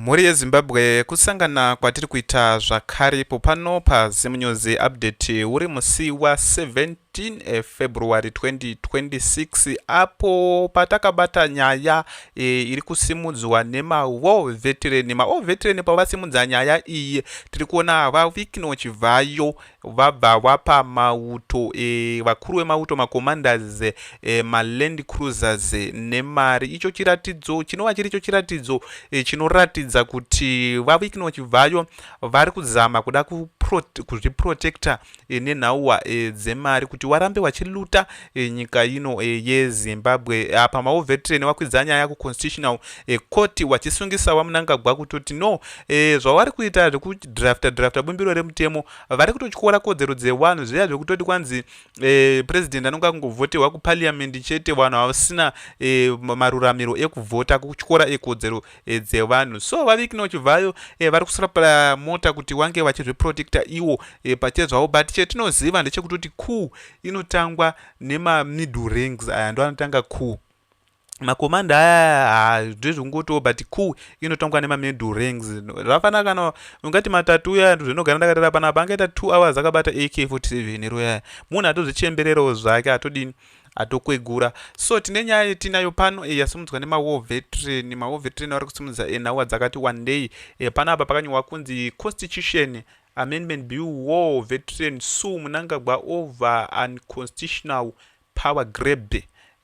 Mhuri yeZimbabwe kusangana kwatiri kuita zvakare ipo pano paZimNews Update uri musi wa 17 February 2026 apo patakabata nyaya e, iri kusimudzwa nemaWar Veteran. MaWar Veteran pavasimudza nyaya iyi tiri kuona VaWikno Chivhayo vabva wapa mauto e, vakuru vemauto macommanders e, eh, maland cruisers eh, nemari icho chiratidzo chinova chiricho chiratidzo e, chinoratidza kuti vavikno chibvayo vari kuzama kuda kuzviprotecta e, nenhauwa e, dzemari kuti warambe wachiluta e, nyika ino e, yezimbabwe apa mauvetreni wakwidza nyaya kuconstitutional e, court wachisungisa wamunangagwa kutoti no e, zvavari kuita zvekudrafta drafta bumbiro remutemo vari kutotyora kodzero dzevanhu zviya zvekutoti kwanzi e, president anonge akungovhoterwa kupaliamendi chete vanhu havasina e, maruramiro ekuvhota kutyora ekodzero e, dzevanhu so vavikno chivhayo e, vari kusrapla mota kuti wange vachizviprotecta iwo e, pache zvavo but chetinoziva ndechekuti kuti cool inotangwa nemamiddle rings aya ndo anotanga cool makomanda aya ndezvongotiwo but cool inotongwa nemamiddle rings zvafana kana ungati matatu uya zvinogara ndakatara panapa angaita two hours akabata ak 47 ero yaya munhu atozvichembererawo zvake atodini atokwegura so tine nyaya yetinayo pano eh, yasimudzwa nemawar veteran mawar veteran vari kusimudza eh, nhawa dzakati wandei eh, pano apa pakanyorwa kunzi constitution amendment bill war veteran su munangagwa over unconstitutional power grab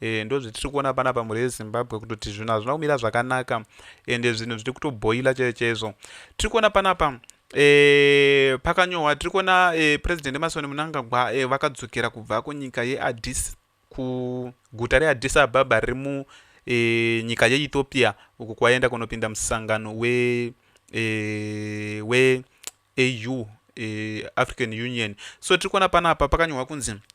eh, ndo zvitiri kuona pana pa mhuri yezimbabwe kutoti zvinhu hazvina kumira zvakanaka ende zvinhu zviri kutoboila chaizvo chaizvo tiri kuona panapa E, pakanyohwa tiri kuona e, president emasoni munangagwa e, vakadzokera kubva kunyika yeadis kuguta readis ababa riri munyika e, yeethiopia uku kwaenda kunopinda musangano we, e, we au e, african union so tiri kuona panapa pakanyohwa kunzi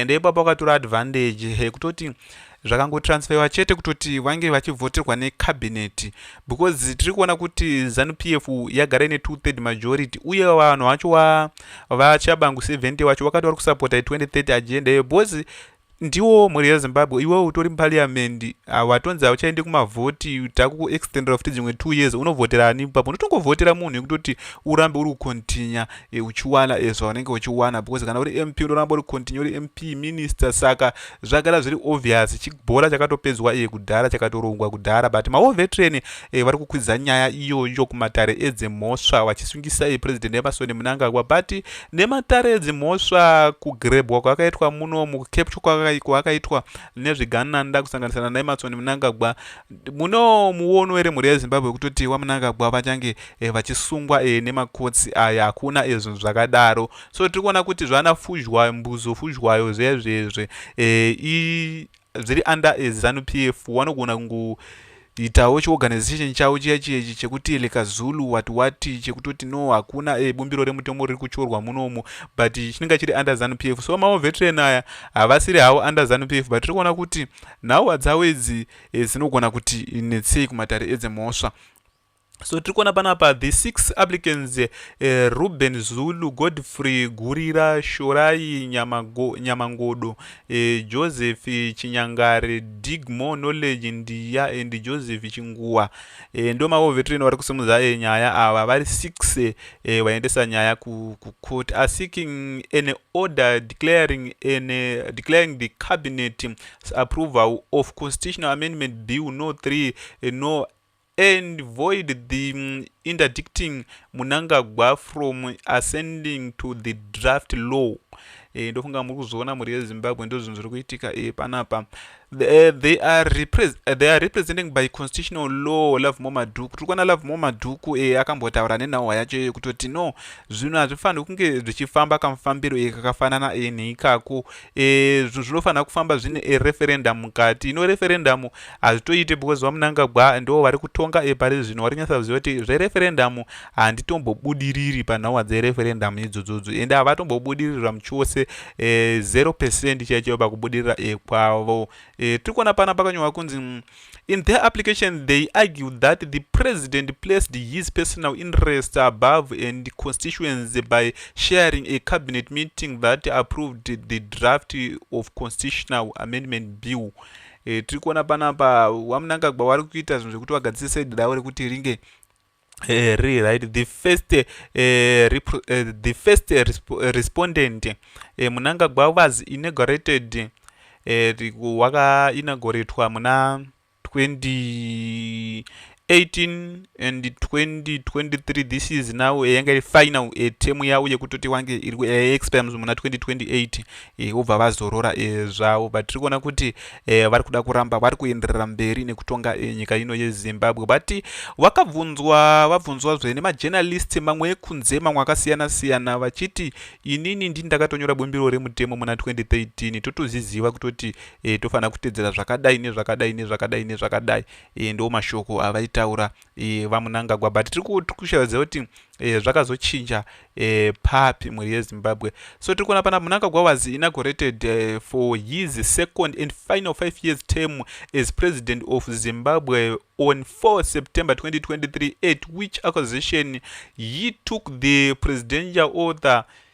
and ipapo akatora advantage yekutoti zvakangotransferiwa chete kutoti vange vachivhoterwa necabinet because tiri kuona kuti zanu p f yagara ine two third majority uye vanhu vacho vachabangu 70 vacho vakati vari kusapota i2030 agenda iyo because ndiwo mhuri yezimbabwe iwe utori muparliamendi watonzi hauchaende kumavhoti takukuextendera futi dzimwe two years unovhotera ani papo unotongovhotera munhu yekutoti urambe uri kucontinya e, uchiwana e, zvaunenge uchiwana because kana uri mp unoramba uri continue uri mp minister saka zvagara zviri obvious chibhora chakatopedzwa iye kudhara chakatorongwa kudhara but maovetreni e, vari kukwidza nyaya iyoyo kumatare edzemhosva vachisungisa e, president emerson munangagwa but nematare edzimhosva kugrebwa kwakaitwa muno mukecapture kwakaitwa nezvigananda kusanganisana naemerson munangagwa muno muono ere mhuri yezimbabwe kutoti wamunangagwa vachange eh, vachisungwa eh, nemakotsi aya hakuna eh, zvinhu zvakadaro so tiri kuona kuti zvana fuzhwayo mbuzo fuzhwayo zvezvezve eh, zviri under eh, zanu p f wanogona kungu itawo chiorganization chavo chiya chiechi chekuti lekazulu wat wat chekutoti no hakuna e, bumbiro remutomo riri kutyorwa munomu but chinenge chiri under zanu p f so mavo veteran aya havasiri havo under zanu p f but tiri kuona kuti nhau dzavo idzi e, dzinogona kuti netsei kumatare edzemhosva so tiri kuona panapa the six applicants uh, eh, ruben zulu godfrey gurira shorai Nyamago, nyamangodo uh, eh, joseph eh, chinyangare dig more knowledge ndiya and joseph chinguwa uh, ndo maovetrino vari kusimudza uh, nyaya ava vari six vaendesa uh, uh, nyaya kucourt are seeking an order declaring, an, uh, declaring the cabinet approval of constitutional amendment bill no 3 uh, no and void the mm, interdicting munangagwa from ascending to the draft law e, ndofunga muri kuzviona mhuri yezimbabwe ndozvinhu zviri kuitika e, panapa eh, they are, they are representing by constitutional law love mo madhuku tiri kuona love mo madhuku e, akambotaura nenhauwa yacho iyoyo kutoti no zvinhu hazvifaniri kunge zvichifamba kamufambiro e, kakafanana e, neikako e, zvinofanira kufamba zvine e, referendum mukati ino referendum hazvitoite because vamunangagwa ndo vari kutonga e, pari zvino vari kunyatsa kuziva kuti zvereferendum handitombobudiriri panhauwa dzereferendum idzodzodzo ende havatombobudirirwa muchose e, 0 percent chaichaiwo pakubudirira e, kwavo e, tiri kuona pana pakanyorwa kunzi In their application, they argue that the president placed his personal interests above and constituency by sharing a cabinet meeting that approved the draft of constitutional amendment bill. E, tiri kuona panapa wamunangagwa wari kuita zvinhu zvekuti wagadzise dare rekuti ringe Uh, re, right the first uh, rep, uh, the first resp respondent uh, munangagwa was inaugurated uh, waka inauguratwa muna 20 18 and 2023 this is now eh, yanga iri final eh, temu yavo yekutoti wange iri eh, expirems muna 2028 e, vobva vazorora e, zvavo but tiri kuona kuti e, vari kuda kuramba vari kuenderera mberi nekutonga e, nyika ino yezimbabwe but vakabvunzwa vabvunzwa zve nemajournalist mamwe ekunze mamwe akasiyana siyana vachiti inini ndini ndakatonyora bumbiro remutemo muna 2013 totozviziva kutoti e, tofanira kutedzera zvakadai nezvakadai nezvakadai nezvakadai e, ndo mashoko avaitaura e, vamunangagwa but tiri kushavaziva kuti, kuti e, zvakazochinja e, papi mhuri yezimbabwe so tiri kuona pana munangagwa was inaugurated e, for his second and final five years term as president of zimbabwe on 4 september 2023 at which acquisition he took the presidential author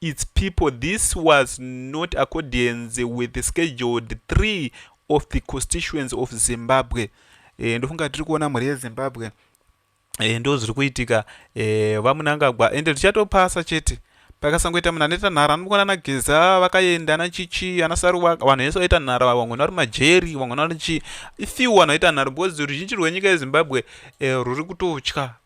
It's people this was not accordance with the scheduled three of the constituents of Zimbabwe. Eh, ndofunga tiri kuona mhuri yezimbabwe eh, ndo zviri kuitika eh, vamunangagwa ende tichatopasa chete pakasangoita munhu anoita nhara anokona nageza vakaenda anachichi anasaruwa vanhu vese vaita nhara vamwe vari majeri vamwe vari chi ifiu vanhu vaita nhara because ruzhinji rwenyika yezimbabwe rwuri kutotya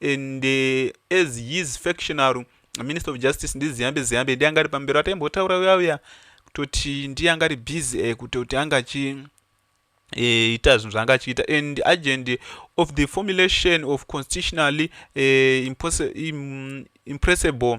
and uh, as his factional minister of justice ndiziyambe ziyambe ndiye angari pamberi ataimbotaura uya uya kutoti ndiye angari busy eh, kutoti anga achi eh, ita zvinhu zvaanga achiita and agent of the formulation of constitutionally eh, impressible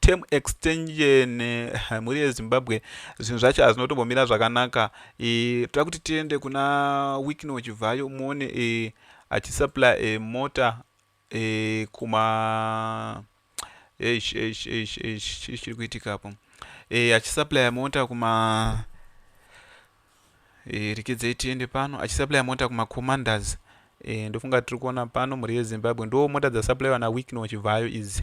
term extension eh, mhuri yezimbabwe zvinhu zvacho hazvinotombomira zvakanaka eh, toda kuti tiende kuna wikno chivhayo muone eh, achisupply mota kuma chiri kuitika apo achisupply mota kuma rikidzei tiende pano achisupply mota kumacommanders ndofunga tiri kuona pano mhuri yezimbabwe ndo mota dzasupplywa nawickno chivhayo idzi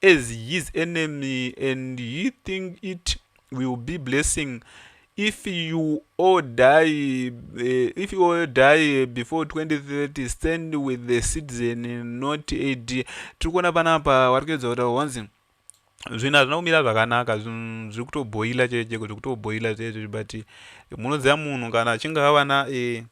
as his enemy and he think it will be blessing if you all die uh, if you all die before 2030 stand with the citizen not ad tiri kuona panapa vari kuedza kuta honzi zvinhu hazvina kumira zvakanaka zvinhu zviri kutobhoila chete cheko zviri kutobhoila zvee zviri but munoziva munhu kana achinge avana e,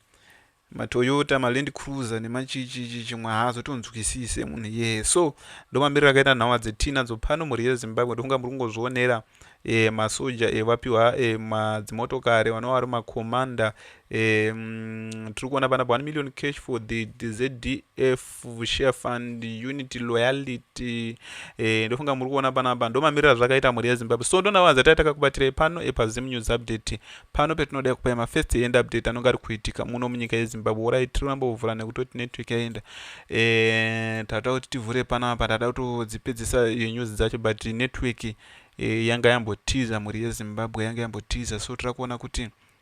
Matoyota, maLand Cruiser nemachichichi chimwe haazotonzwisise munhu iyeye. So ndomamiriro akaita nhauwa dzetii nadzo pano mhuri yeZimbabwe ndofunga muri kungozvionera e, masoja e, vapiwa e, madzimotokari vanova vari makomanda e, mm, tiri kuona panapa 1 million cash for the ZDF share fund unity loyalty eh, ndofunga muri kuona panapa ndomamirira zvakaita mhuri yezimbabwe so ndonavaza tai takakubatirei pano epazim news update pano petinoda kupai mafirst end update anonge ari kuitika muno munyika yezimbabwe orai tiri kuramba kuvhura nekutoti network yaenda eh, tatoda kuti tivhure panapa tatoda kutodzipedzisa eh, news dzacho but network eh, yanga yambotiza mhuri yezimbabwe yanga yambotiza so tira kuona kuti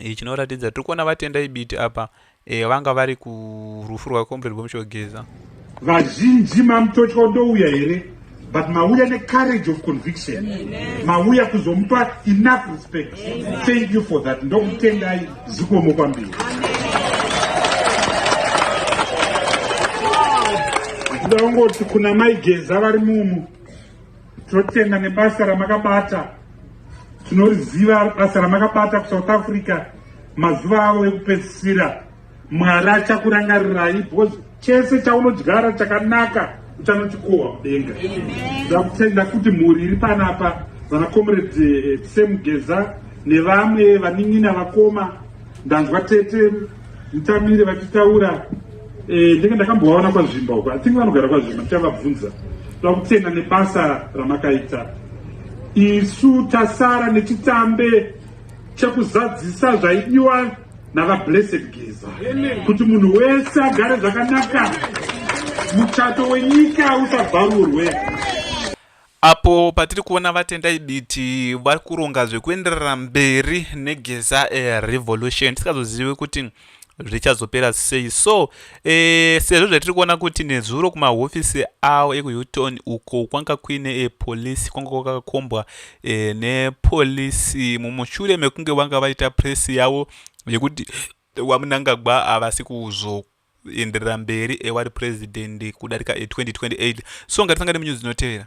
e, chinoratidza tiri kuona vatendai biti apa e, vanga vari kurufu rwakomrade bomushogeza vazhinji mamutotya ndouya here but mauya necourage of conviction mauya kuzomupa enough respect thank you for that ndokutendai zikomo kwambiri ndaongoti kuna maigeza vari mumu Tinotenda nebasa ramakabata, tinoriziva basa ramakabata kuSouth Africa mazuva avo ekupedzisira. Mwari achakurangarirai because chese chaunodyara chakanaka uchanochikohwa mudenga. Ndakutenda kuti mhuri iri panapa vana comrade eh, Sam Geza nevamwe vanin'ina vakoma ndanzwa tete Mutamire vachitaura eh, ndenge ndakambovaona kwazvimba uko atinge vanogara kwazvimba ndichavabvunza toda kutenda nebasa ramakaita isu tasara nechitambe chekuzadzisa zvaidiwa navablessed geza kuti munhu wese agare zvakanaka muchato wenyika usabvarurwe Apo patiri kuona VaTendai Biti vari kuronga zvekuenderera mberi neGeza Revolution tisingazozivi kuti zvichazopera sei so e, sezvo zvatiri kuona kuti nezuro kumahofisi avo ekuhilton uko kwanga kuine e, polisi kwanga kwakakombwa e, nepolisi mumushure mekunge vanga vaita presi yavo yekuti wamunangagwa havasi kuzoku enderera mberi ewari president kudarika e 2028 so ngatisangane munews dzinotevera.